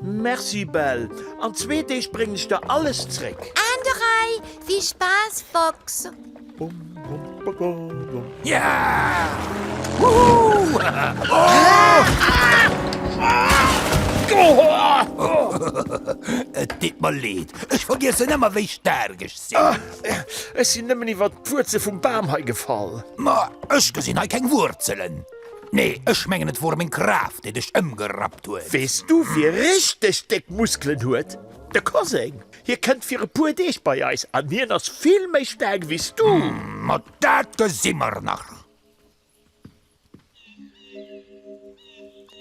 Merci Belle, an zwee Deeg bréngen ech der alles zréck. Aan de Rei, vill Spaass Box! Et deet mer leed, ech vergiessen emmer wéi staark ech sin. Ech sinn nëmmen iwwer d'Wuerzel vum Bam hei gefall. Ma ech gesinn hei keng Wuerzelen. Nee, ech mengen et wor meng Kraaft, déi dech ëmgerappt huet. Weess du, wie richteg déck Muskelen huet? De Koseng. Hie kënnt fir e puer Deeg bei eis an hien ass vill méi staark wéi s du. Ma dat gesi mer nach.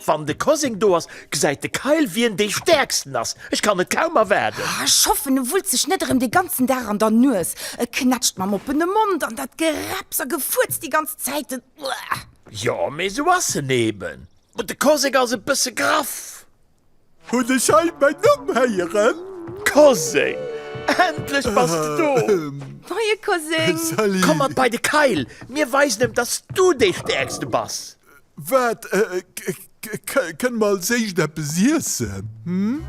Wann de Koseng do ass, gesäit de Kyle wien dee stäerksten ass. Ech kann et kaum erwaarden. Ech hoffen e wullt sech net erëm dee ganzen Dag an der Nues, e knätscht mam oppene Mond an dat Gerepps a Gefuerz déi ganz Zäiten. Jo, mee esou ass en eben. De Koseng ass e bësse graff. Hunn ech hei mäin Numm héieren? Koseng, endlech bass de do! Moie Koseng! Salut! Komm mat bei de Kayl, mir weisen em dass du dee Stäerkste bass! Waart, kënne mer als éischt eppes iessen? Hm?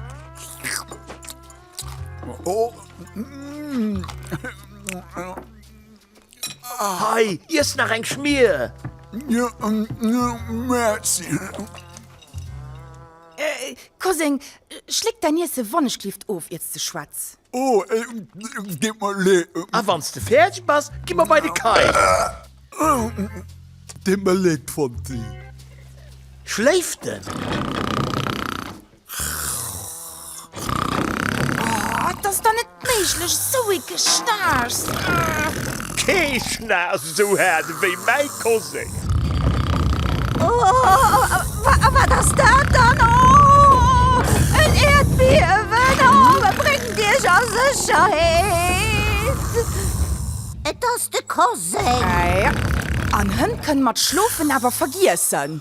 Hei, iess nach eng Schmier! Merci. Koseng, schléck däin Iesse wannechlift of, iert s de schwätz. Oh, et deet mer leed. A wann s de fäerdeg bass, gi mer bei de Kaiser. Deet mer leed, Fonty. Schléift en? Oh, et ass der net méiglech, esou ee Geschnarchs! Kee schnaarcht esou haart ewéi mäi Koseng! Oh, a wat ass dat dann? Oh, en Äerdbiewen! Oh, wat bréngt iech a Sécherheet? Et ass de Koseng! Aja, an Hënn kënne mer d'Schlofen awer vergiessen!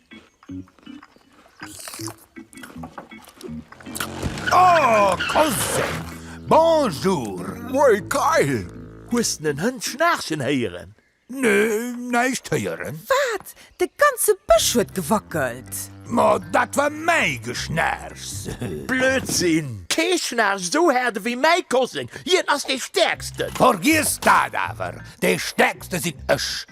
Oh Cousin! Bonjour! Moin Kyle! Hues de den Hënn schnaarchen héieren? Nee, näischt héieren. Wat? De ganze Bësch huet gewackelt? Ma dat war mäi Geschnaarchs. Blödsinn! Kee schnaarcht esou haart ewéi mäi Cousin, hien ass dee Stäerksten! Vergiess dat awer, dee Stäerkste sinn ech!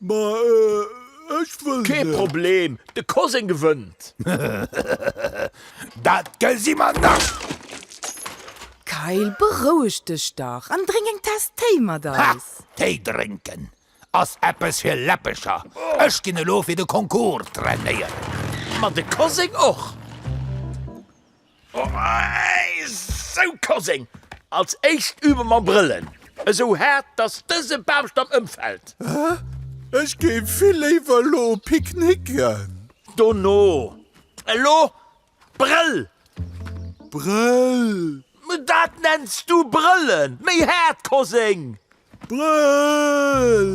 Ma ech wëll net. Kee Problem, de Koseng gewënnt! Dat gesi mer nach! Kayl, beroueg dech dach an drénk eng Taass Téi mat eis! Ha! Téi drénken ass eppes fir Läppecher! Ech ginn elo fir de Concours trainéieren! Ma de Koseng och! Sou Koseng, als éischt übe mer brëllen esou haart dass dëse Bamstamm ëmfällt. Ech géif vill léiwer elo picknicken. Dono, elo brëll! Brëll! Dat nenns du brëllen? Méi haart Koseng! Brëll!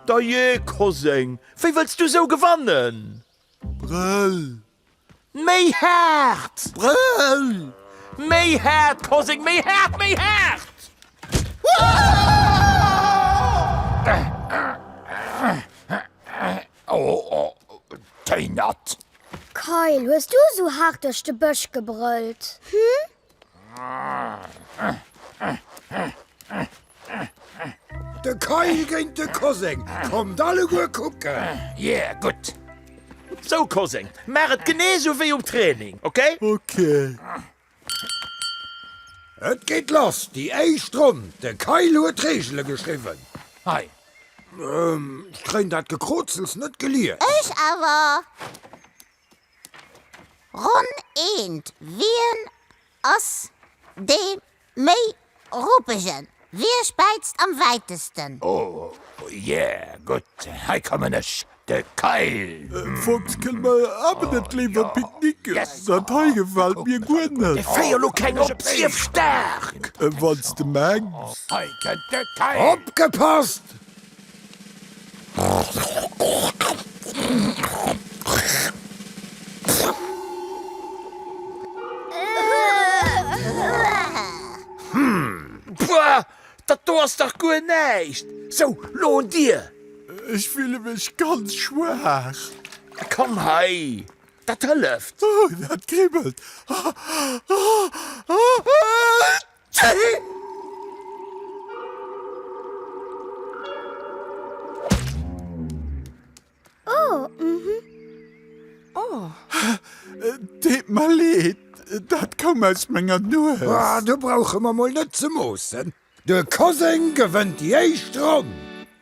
Dajee Koseng, wéi wëlls du sou gewannen? Brëll! Méi haart! Brrrr! Méi haart, Koseng, méi haart, méi haart! Oh oh, d'Téin, Nat. Kayl, hues du esou haart duerch de Bësch gebrëllt? Hm? De Kayl géint de Koseng. Kommt alleguer kucken! Yeah, gutt! Sou, Koseng, maach et genee esou wéi um Training, okay? Okay. Et geet lass, déi éischt Ronn. De Kayl huet d'Reegele geschriwwen. Hei. Ech kréien dat Gekrozels net gelies. Ech awer! Ronn 1, Wien ass dee méi ruppegen? Wie späizt am wäitesten? Oh yeah, gutt, hei kommen ech, de Kyle! Fox, kënnt mer awer net léiwer picknicken? Dat hei gefält mir guer net! Féier elo keng op, sief staark! Wann s de mengs. Hei kënnt de Kyle! Opgepasst! Pouah! Dat do ass dach guer näischt! Sou, lo un dir! Ech fille mech ganz schwaach. Komm hei, dat hëlleft. Oh, dat kribbelt! Deet mer leed, dat koum aus menger Nues. Ah, do brauche mer mol net ze moossen. De Koseng gewënnt déi éischt Ronn.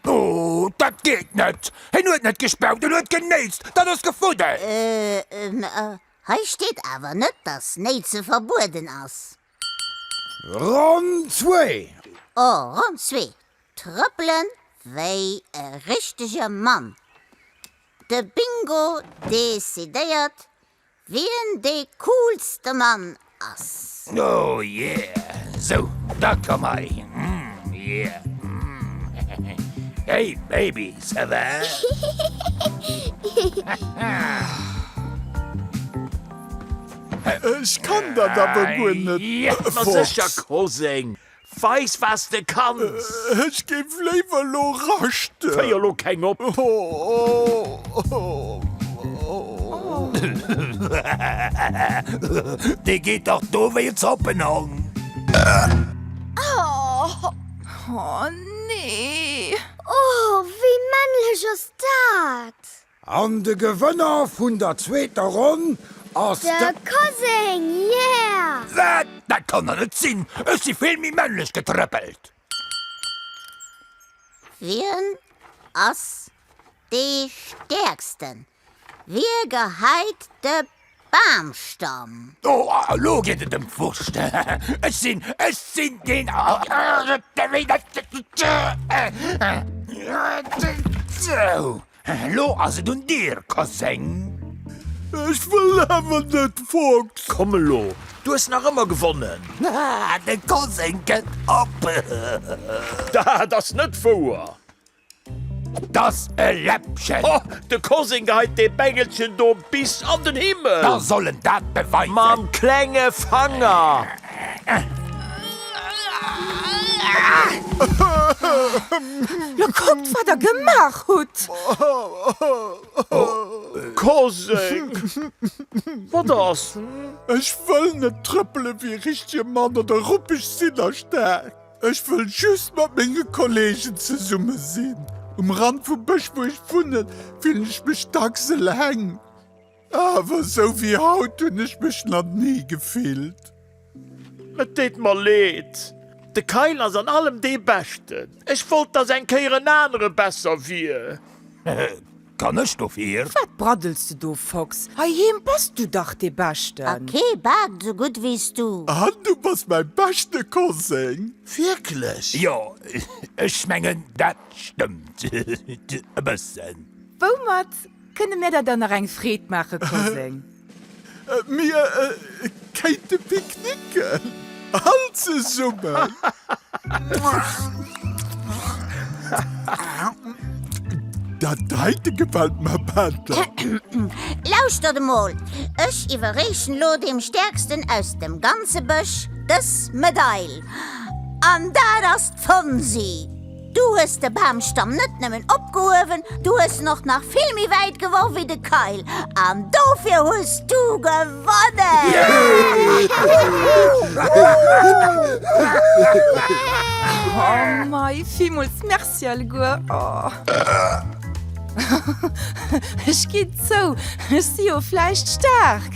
Oh, dat geet net! Hien huet net gespaut, en huet genéitst! Dat ass gefuddel! Hei steet awer net, dass Néitse verbueden ass. Ronn zwee! Oh, Ronn zwee! Trëppelen wéi e richtege Mann! De Bingo decidéiert, wien dee coolste Mann ass! Oh yeah! Sou, da komm hei! Umm, yeah! Umm, hey Baby, ça va? Haha! Ech kann dat awer guer net, Fox. Weis wats de kanns! Ech géif léiwer lo raschten. Féier lo keng op! Dee geet dach do wéi e Zappenhong! Oh, nee! Oh, wéi männlech ass dat! An de Gewënner vun der zweeter Ronn ass de. De Koseng, yeah! Wat? Dat kann der net sinn! Ech si vill méi männlech getrëppelt! Wien ass dee Stäerksten? Wie geheit de Baamstamm. Oh, a elo geet et ëm d'Wurscht. Ech sinn, ech sinn deen Sou, elo ass et un dir, Koséng. Ech wëll awer net fort. Komm elo, du hues nach ëmmer gewonnen. De Koséng gëtt op. Dat ass net wouer. T'ass e Läppchen! Oh, de Koseng geheit dee Bengelchen do bis an den Himmel! Da soll en dat beweisen! Mam klenge Fanger! Lo kuckt wat der gemaach hutt! Koseng! Wat ass? Ech wëll net trëppelen wéi e richtege Mann oder ruppeg sinn a staark. Ech wëll just mat menge Kollegen zesumme sinn. Um Rand vum Bësch wou ech wunnen, fillen ech mech dacks eleng. Awer esou wéi haut hunn ech mech nach ni gefillt. Et deet mer leed, de Kyle ass an allem dee Beschten. Ech wollt dass eng Kéier en anere besser wier. Kann ech dofir? Wat braddels de do, Fox? Heiheem bass du dach dee Beschten! A kee baakt esou gutt wéi s du! An du bass mäi beschte Koseng! Wierklech? Jo, ech mengen, dat stëmmt e bëssen. Woumat kënne mir der dann nach eng Freed maache, Koseng? Mir kéinte picknicken, all zesummen. Dat heite gefält mer besser. Lauschtert emol, ech iwwerreechen elo deem Stäerksten aus dem ganze Bësch dës Medail. An dat ass d'Fonsi! Du hues de Bamstamm net nëmmen opgehuewen, du hues en och nach vill méi wäit geworf wéi de Kyle. An dofir hues du gewonnen! Mei villmools Merci alleguer! Ech ginn zou, ech si jo vläicht staark.